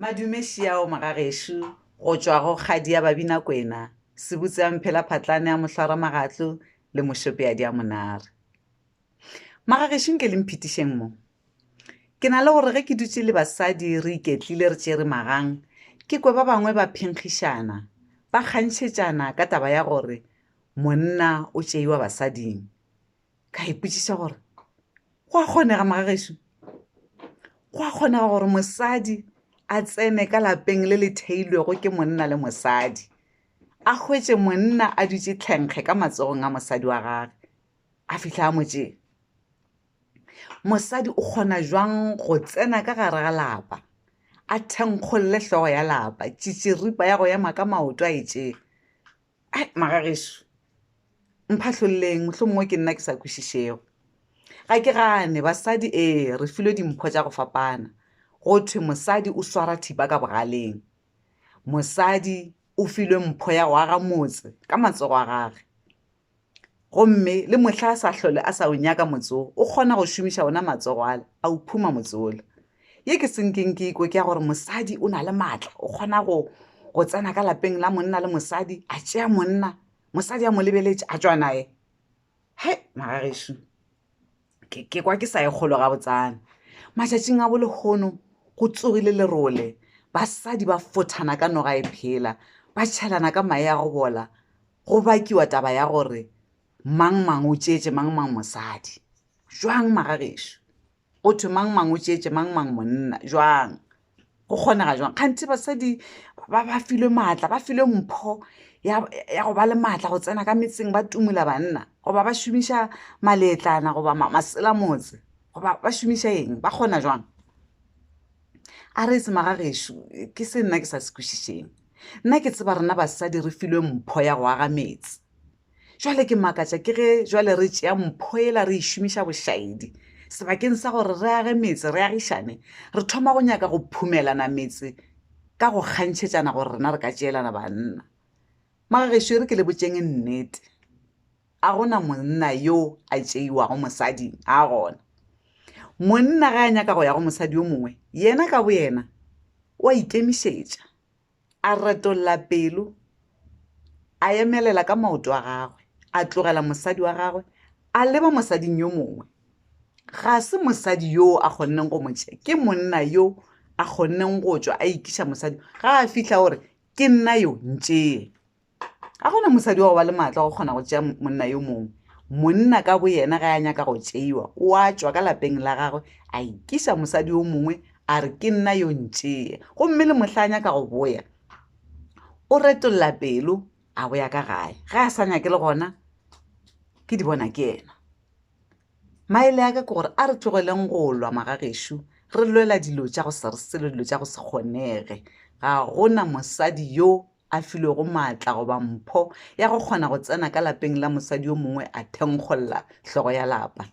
Madumešiao Magagešo go tšwa go Kgadi ya Babinakwena, Sebutse ya Mphela Phatlane ya Mohlora Magatlo le Mošopeadi ya Monare. Magagešo nke le mphitišeng mo. Ke na le gore ge ke dutše le basadi re iketlile re tšere magang, ke kwe ba bangwe ba phenkgišana, ba kgantšhetšana ka taba ya gore monna o tšeiwa basading. ka ipotšiša gore go a kgonega magagešu go a kgonega gore mosadi a tsene ka lapeng le le theilwego ke monna le mosadi a hwetše monna a dutše tlhenkge ka matsogong a mosadi wa gage a fitlha a motšeng mosadi o kgona jwang go tsena ka gare ga lapa a thenkgolole hlogo ya lapa tšitširipa ya go ema ka maoto a e tšee ai magageso mphahlololeng mohlho mongwe ke nna ke sa kwešišego ga ke gane basadi ee re filwe dimpho tša go fapana go thwe mosadi o swara thipa ka bogaleng mosadi o filwe mpho ya go aga motse ka matsogo a gage gomme le mohla a sa hlole a sa o nyaka motse wo o kgona go šomiša ona matsogo ale a o phuma motse ole ye ke senkeng ke ikwe ke ya gore mosadi o na le maatla o kgona go go tsena ka lapeng la monna le mosadi a tšea monna mosadi a mo lebeletše a tšwa naye he magagešu ke kwa ke sa e kgolo ga botsana matšatšing a bolehono go tsogile lerole basadi ba fothana ka noga e phela ba tšhelana ka mae a go bola go bakiwa taba ya gore mang mang o tšeetse mang mang mosadi jwang magagešu go thwe mang mang o tšeetse mang mang monna jwang go kgonega jwang kganthe basadi ba ba filwe maatla ba filwe mpho ya go ba le maatla go tsena ka metseng ba tumola banna goba ba šomiša maletlana goba masela motse goba ba šomiša eng ba kgona jwang a re se maga gešo ke se nna ke sa se kwešišeng nna ke tseba rena basadi re filwe mpho ya go aga metse Jwale ke makatša ke ge jwale re tšea mpho ela re e šomiša bošaedi. Sebakeng sa gore re age metse, re agišane, re thoma go nyaka go phumelana metse ka go kgantšhetšana gore rena re ka tšeelana banna. Magagešo e re ke le botšeng nnete, a go na monna yo a tšeiwago mosadi, a gona. Monna ge a nyaka go ya go mosadi yo mongwe, yena ka boyena o a ikemišetša, A retolla pelo, a emelela ka maoto a gagwe, a tlogela mosadi wa gagwe, a leba mosading yo mongwe. Ga se mosadi yoo a kgonneng go mo tšea, ke monna yo a kgonneng go tšwa a ikiša mosadi, ga a fihla o re, Ke nna yo, ntšee. ga gona mosadi wa go ba le maatla go kgona go tšea monna yo mongwe monna ka bo yena ga ya nyaka go tšeiwa o a tšwa ka lapeng la gagwe a ikiša mosadi yo mongwe a re ke nna yo ntšee gomme le mohla a nyaka go boya o retolla pelo a boya ka gae ga a sa nyake le gona ke di bona ke yena maele ya ka ke gore a re tlogeleng go lwa magagešo re lwela dilo tša go se re selo dilo tša go se kgonege ga gona mosadi yo a filwego maatla goba mpho ya go kgona go tsena ka lapeng la mosadi yo mongwe a thenkgolla hlogo ya lapa.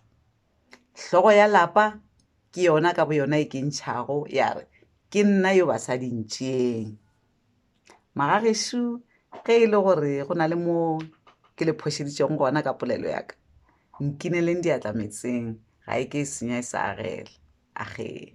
Hlogo ya lapa ke yona ka boyona e kentšhago ya re, Ke nna yo basadi ntšeeng. Magagešu, ge e le gore go na le mo ke le phošeditšego gona ka polelo ya ka, nkineleng diatla meetseng, ga e ke e senya e sa agela. Agee.